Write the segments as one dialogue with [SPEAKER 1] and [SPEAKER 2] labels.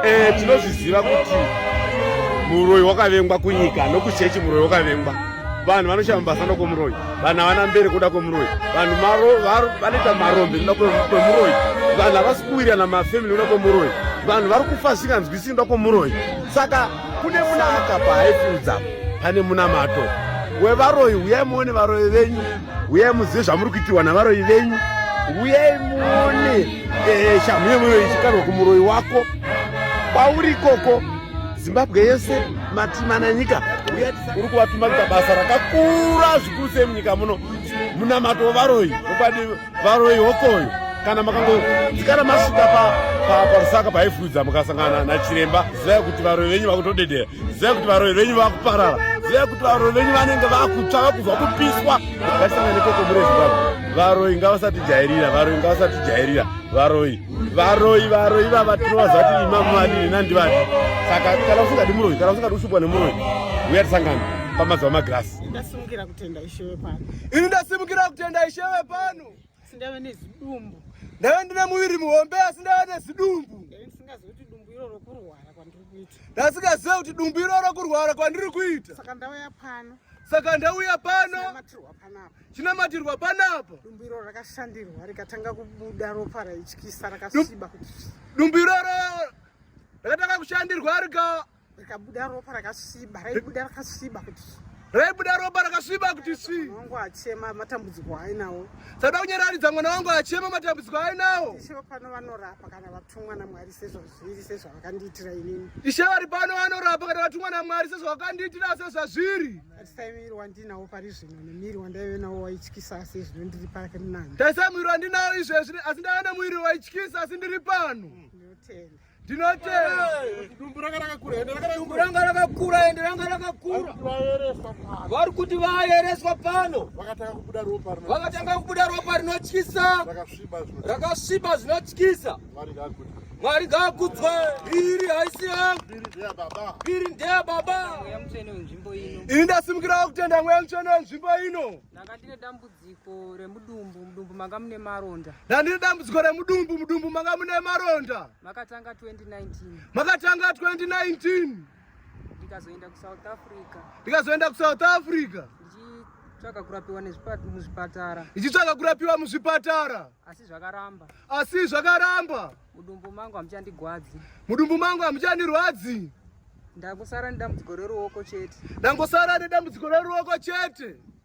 [SPEAKER 1] Eh, tinozviziva kuti muroyi wakavengwa kunyika nokuchechi muroyi wakavengwa vanhu vanoshaya mabasa noda kwemuroyi vanhu havana mberi kuda kwemuroyi vanhu vanoita marombe noda kwemuroyi vanhu havasi kuwirirana mafamily noda kwemuroyi vanhu vari kufa zvisinganzwisii noda kwemuroyi saka kune munaka paaifiudza pane munamato wevaroyi uyai muone varoyi venyu Uyai muzive zvamuri kuitirwa navaroyi venyu. Uyai muone eh, shamhu yemoyo ichikarwa kumuroyi wako kwauri ikoko. Zimbabwe yese matima nanyika uri kuvatuma kuita basa rakakura zvikuru sei munyika muno munamato wevaroyi okwadi varoyi hokoyo kana makangodzikana masvika parusaka paifudza mukasangana nachiremba zivai kuti varoyi venyu vakutodedera ziva kuti varoyi venyu vakuparara ziva kuti varoyi venyu vanenge vakutsva vakubva kupiswa vasangana nekoko mure zimbabwe varoyi ngavasatijairira varoyi ngavasatijairira varoyi varoyi varoyi vava tinovaziva kuti imamu vadini nandivati saka kana usingadi muroyi kana usingadi kusvibwa nemuroyi uya tisangana pamazuva magirasi ndasimukira kutenda
[SPEAKER 2] ishewe pano ini ndasimukira
[SPEAKER 3] kutenda ishewe pano asi ndave
[SPEAKER 2] nezidumbu ndave ndine muviri
[SPEAKER 3] muhombe asi ndave nezidumbu ndasingazive kuti dumbu
[SPEAKER 2] iroro kurwara kwandiri kuita ndasingazive kuti dumbu
[SPEAKER 3] iroro kurwara kwandiri kuita saka ndauya pano
[SPEAKER 2] saka ndauya
[SPEAKER 3] pano
[SPEAKER 2] chinamatirwa panapa
[SPEAKER 3] dumbu iroro rakashandirwa
[SPEAKER 2] rikatanga kubuda ropa raityisa rakasviba kuti dumbu iroro
[SPEAKER 3] rakatanga kushandirwa rika Rikabuda
[SPEAKER 2] ropa rakasviba, raibuda rakasviba kuti raibuda ropa
[SPEAKER 3] rakasviba kuti svi. Wangu achema
[SPEAKER 2] matambudziko ainawo. Sada kunyararidza
[SPEAKER 3] mwana wangu achema matambudziko ainawo. Ishe pano vanorapa
[SPEAKER 2] kana vatumwa naMwari sezvazviri sezvavakandiitira inini. Ishe vari pano
[SPEAKER 3] vanorapa kana vatumwa naMwari sezvavakandiitira sezvazviri. Tarisai muviri
[SPEAKER 2] wandinawo pari zvino nemuviri wandaive nawo waityisa asi izvino ndiri pake munani. Tarisai muviri wandinawo
[SPEAKER 3] izvezvi asi ndaive nemuviri waityisa asi ndiri pano. Ndinotenda. ndinoteekuranga
[SPEAKER 1] rakakura ende ranga rakakura vari
[SPEAKER 3] kuti vayereswa pano
[SPEAKER 1] vakatanga kubuda ropa
[SPEAKER 3] rinotyisa rakasviba zvinotyisa mwari ngaakudzwe iri haisi yangu iri ndeya baba ini ndasimukirawo kutenda mweya mutsvene wenzvimbo ino
[SPEAKER 2] Dambudziko remudumbu, mudumbu manga mune maronda. Ndandiri dambudziko
[SPEAKER 3] remudumbu, mudumbu manga mune maronda. Makatanga 2019.
[SPEAKER 2] Makatanga 2019.
[SPEAKER 3] Ndikazoenda
[SPEAKER 2] kuSouth Africa. Ndikazoenda kuSouth Africa. Ndichitsvaga kurapiwa muzvipatara. Ndichitsvaga kurapiwa
[SPEAKER 3] muzvipatara. Asi zvakaramba.
[SPEAKER 2] Asi zvakaramba. Mudumbu mangu hamuchandigwadzi. Mudumbu mangu hamuchandirwadzi. Ndangosara nedambudziko reruoko chete. Ndangosara nedambudziko reruoko chete.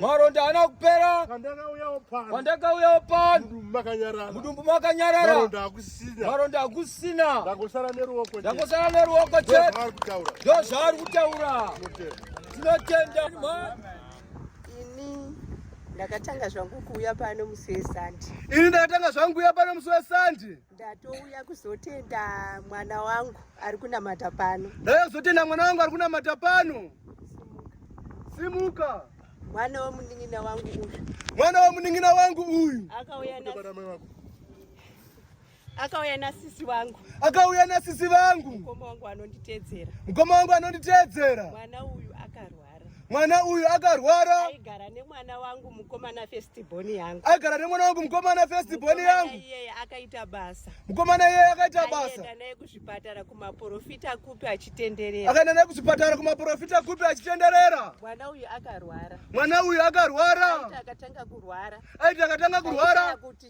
[SPEAKER 3] Maronda haana kupera. Pandakauya opana. Mudumbu makanyarara. Maronda hakusina. Ndangosara neruoko. Ndangosara neruoko chete. Ndoo zvaari kutaura. Tinotenda. Ini
[SPEAKER 4] ndakatanga zvangu kuuya pano musi weSande. Ini ndakatanga zvangu kuuya pano musi weSande. Ndatouya kuzotenda mwana wangu ari kunamata pano. Ndauya kuzotenda mwana wangu ari kunamata pano.
[SPEAKER 3] Simuka. Mwana womunin'ina
[SPEAKER 4] wangu uyu. Mwana womunin'ina wangu uyu. Akauya na Akauya na sisi wangu. Akauya na sisi wangu. Mkoma wangu anonditedzera. Mkoma wangu anonditedzera. Mwana uyu akarwa. mwana uyu akarwara aigara nemwana wangu mukomana festiboni yangu aigara nemwana wangu mukomana festiboni yangu iyeye akaita basa mukomana iyeye akaita basa akaenda naye kuzvipatara kumaporofita kupi achitenderera akaenda naye kuzvipatara kumaporofita kupi achitenderera mwana uyu akarwara mwana uyu akarwara aiti akatanga kurwara aiti akatanga kurwara kuti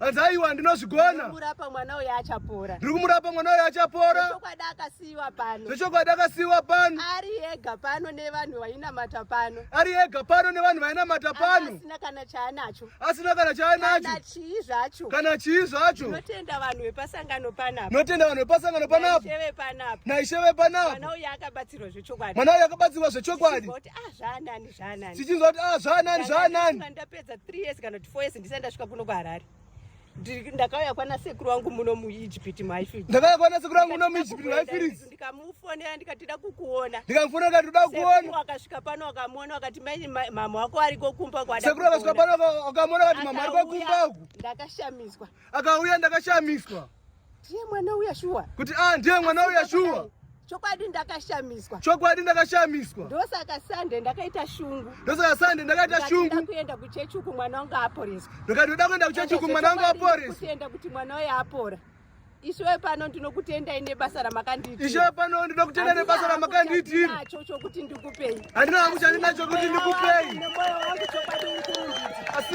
[SPEAKER 4] hanzi aiwa ndinozvigona ndiri kumurapa mwana uyo achapora zvechokwadi akasiiwa pano zvechokwadi akasiiwa pano ari ega pano nevanhu vainamata pano ari ega pano nevanhu vainamata pano asina kana chaanacho asina kana chaanacho kana chii zvacho kana chii zvacho notenda vanhu vepasangano panapo notenda vanhu vepasangano panapo naisheve panapo naisheve panapo mwana uyo akabatsirwa zvechokwadi mwana uyo akabatsirwa zvechokwadi ah, zvaanani sichinzwa kuti ah, zvaanani zvaanani ndapedza 3
[SPEAKER 2] years kana kuti 4 years ndisati ndasvika kuno kuharare ndakauya kwana sekuru wangu muno muegypt maifiri ndakauya kwana sekuru wangu muno
[SPEAKER 4] muegypt maifiri ndikamufonera ndikati
[SPEAKER 2] da kukuona ndikamufonera ndikati da
[SPEAKER 4] kuona akasvika pano
[SPEAKER 2] akamuona akati mai mama wako ariko kumba kwada sekuru akasvika pano
[SPEAKER 4] akamuona akati mama ariko kumba ndakashamiswa
[SPEAKER 2] akauya
[SPEAKER 4] ndakashamiswa ndiye mwana
[SPEAKER 2] uya shuwa kuti a ah, ndiye mwana
[SPEAKER 4] uya shuwa chokwadi
[SPEAKER 2] ndakashamiswa chokwadi ndakashamiswa
[SPEAKER 4] ndosaka sande ndakaita
[SPEAKER 2] shungu ndosaka sande ndakaita shungu
[SPEAKER 4] ndakuenda kuchechi uku
[SPEAKER 2] mwana wangu aporeswa ndikati ndoda kuenda kuchechi
[SPEAKER 4] uku mwana wangu aporeswa kutenda kuti mwana uya
[SPEAKER 2] apora ishowe pano ndinokutendai nebasa ramakandiitira ishowe pano ndinokutendai nebasa ramakandiitira nacho chokuti ndikupei handina
[SPEAKER 4] hakuchandinacho
[SPEAKER 2] kuti ndikupei
[SPEAKER 4] asi